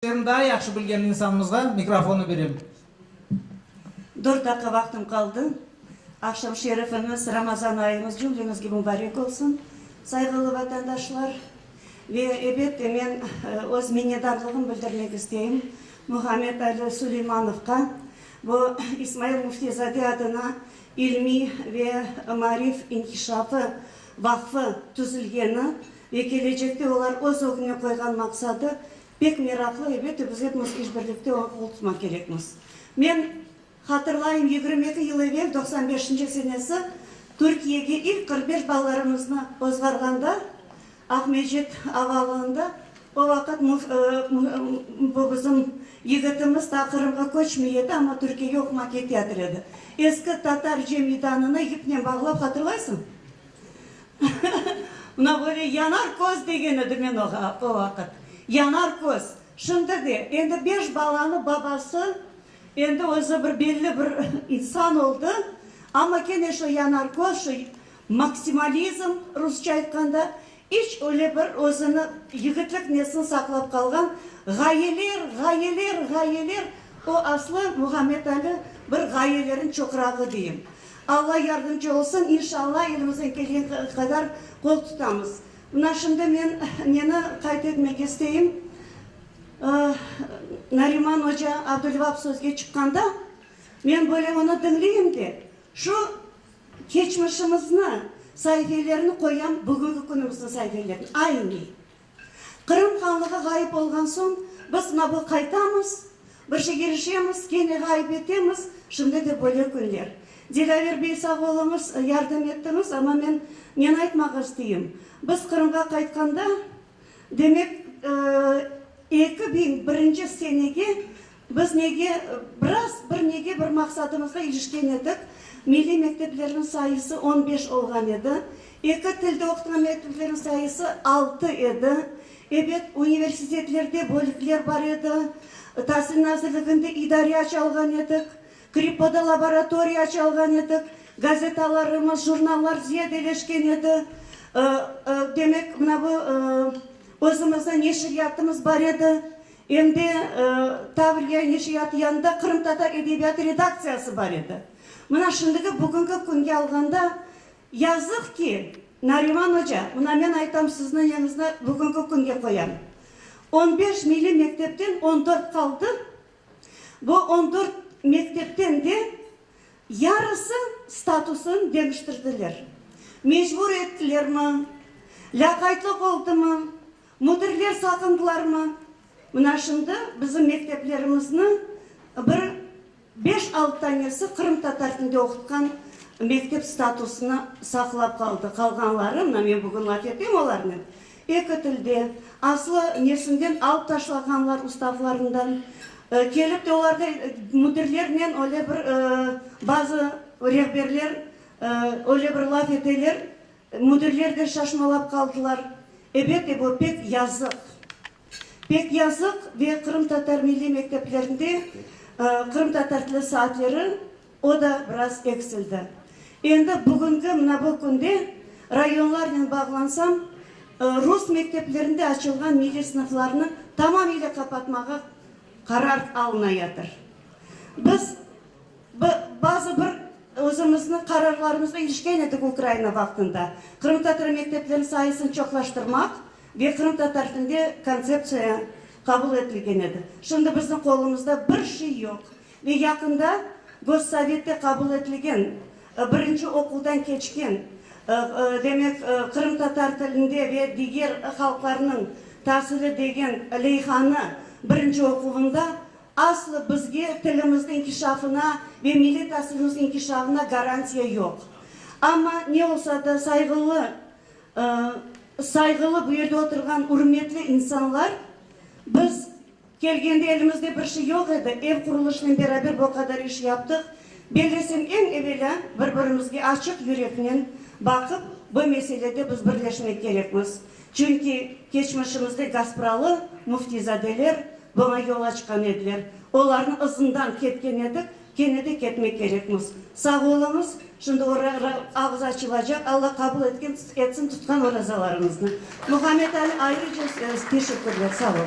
Eñ daa yahşı bilgen insanımızğa mikrofonnı berem. Dört daqqa vaqtım qaldı. Aqşam şerifimiz, Ramazan ayımız cümlemizge mubarek olsun, sayğılı vatandaşlar. Ve, ebet de, men öz minnetdarlığım bildirmek isteyim Muhammed Ali Suleymanovqa, bu İsmail Müftizade adına ilmiy ve maarif inkişafı vaqfı tüzülgeni ve kelecekte olar öz ögüne qoyğan maqsadı Pek meraqlı, elbette, biz epimiz işbirlikte oña qol tutmaq kerekmiz. Men hatırlayım, yigirmi eki yıl evel, doqsan beşinci senesi, Türkiyege ilk qırq beş balalarımıznı ozğarğanda, Aqmescit avalığında, o vaqıt bu bizim yigitimiz daa Qırımğa köçmey edi, amma Türkiyege oqumaq keteyatır edi. Eski tatar cem meydanına yipnen bağlap, hatırlaysıñ? Mına böyle yanar köz degen edi men oğa o vaqıt. Yanar köz. Şimdi de, endi beş balanıñ babası, endi özü bir belli bir insan oldı, amma kene şu yanar köz, şu maksimalizm, rusça aytqanda, İç öyle bir özüni yigitlik nesini saqlap qalğan, ğayeler, ğayeler, ğayeler, o aslı Muhammed-Ali bir ğayelerin çoqrağı deyim. Alla yardımcı olsun, inşalla elimizden kelgen qadar qol tutamız. Mına şimdi men neni qayd etmek isteyim, Nariman oca Abdülvap sözge çıqqanda, men böyle onı diñleyim de, şu Keçmişimizni saifelerini qoyan bugünki künümizniñ saifelerini aynı. Qırım Hanlığı ğayıp olğan soñ biz nabı qaytamız, bir şey irişemiz, kene ğayıp etemiz, şimdi de böyle künler. Dilaver bey sağ oluñız, yardım ettiñiz, amma men neni aytmaq isteyim, biz Qırımğa qaytqanda, demek, eki biñ birinci senege Biz nege biraz, bir nege bir maqsadımızğa irişken edik, milliy mekteplerniñ sayısı on beş olğan edi, eki tilde oqutqan mekteplerniñ sayısı altı edi. Ebet, universitetlerde bölükler bar edi, Tasil nazirliginde idare aça alğan edik, KRİPOda laboratoriya aça alğan edik, gazetalarımız, jurnallar ziyadeleşken edi, demek, mına bu, özümizniñ neşriyatımız bar edi. Em de Tavriya neşriyatı yanında qırımtatar edebiyatı redaktsiyası bar edi. Mına şimdiki, bugünki künge alğanda, yazıq ki, Nariman oca, mına men aytam, sizni yeñizni bugünki künge qoyam, on beş milliy mektepten on dört qaldı, bu on dört mektepten de yarısı statusın deñiştirdiler. Mecbur ettilermi, lâqaytlıq oldımı, Müdirler saqındılarmı? Mına şimdi bizim mekteplerimizniñ bir beş-altı tanesi qırımtatar tilinde oqutqan mektep statusını saqlap qaldı. Qalğanları, mına men bugün laf eteyim olarnen, eki tilde, aslı nesinden alıp taşlağanlar ustavlarından, kelip de olarda müdirlernen öyle bir bazı rehberler öyle bir laf eteler, Müdirler de şaşmalap qaldılar. Ebet-e, bu pek yazıq. Pek yazıq ve qırımtatar milliy mekteplerinde qırımtatar tili saatleri o da biraz eksildi. Endi bugünki mına bu künde rayonlarnen bağlansam, rus mekteplerinde açılğan milliy sınıflarnı tamamıyla qapatmağa qarar alınayatır. Biz. Bazı bir özümizniñ qararlarımızğa irişken edik Ukraina vaqtında, qırımtatar mektepleriniñ sayısını çoqlaştırmaq ve qırımtatar tilinde kontseptsiya qabul etilgen edi. Şimdi bizniñ qolumızda bir şey yoq. Ve yaqında Gossovette qabul etilgen, birinci oquvdan keçken, demek, qırımtatar tilinde ve diger halqlarnıñ tasili degen leyhanı birinci oquvında Aslı bizge tilimizniñ inkişafına ve millet asılımız inkişafına garantiya yoq. Amma ne olsa da sayğılı, sayğılı bu yerde oturğan ürmetli insanlar, biz kelgende elimizde bir şey yoq edi, ev qurulışınen beraber bu qadar iş yaptıq. Bellesem eñ evelâ bir birimizge açıq yüreknen baqıp bu meselede biz birleşmek kerekmiz. Çünki keçmişimizde Gaspralı müftizadeler buña yol açqan ediler. Olarnı ızından ketken edik, kene de ketmek kerekmiz. Sağ oluñız, şimdi oraya ağız açılacaq. Alla qabul etken etsin tutqan orazalarıñıznı. Muhammed Ali, ayrıca teşekkürler. Sağ ol.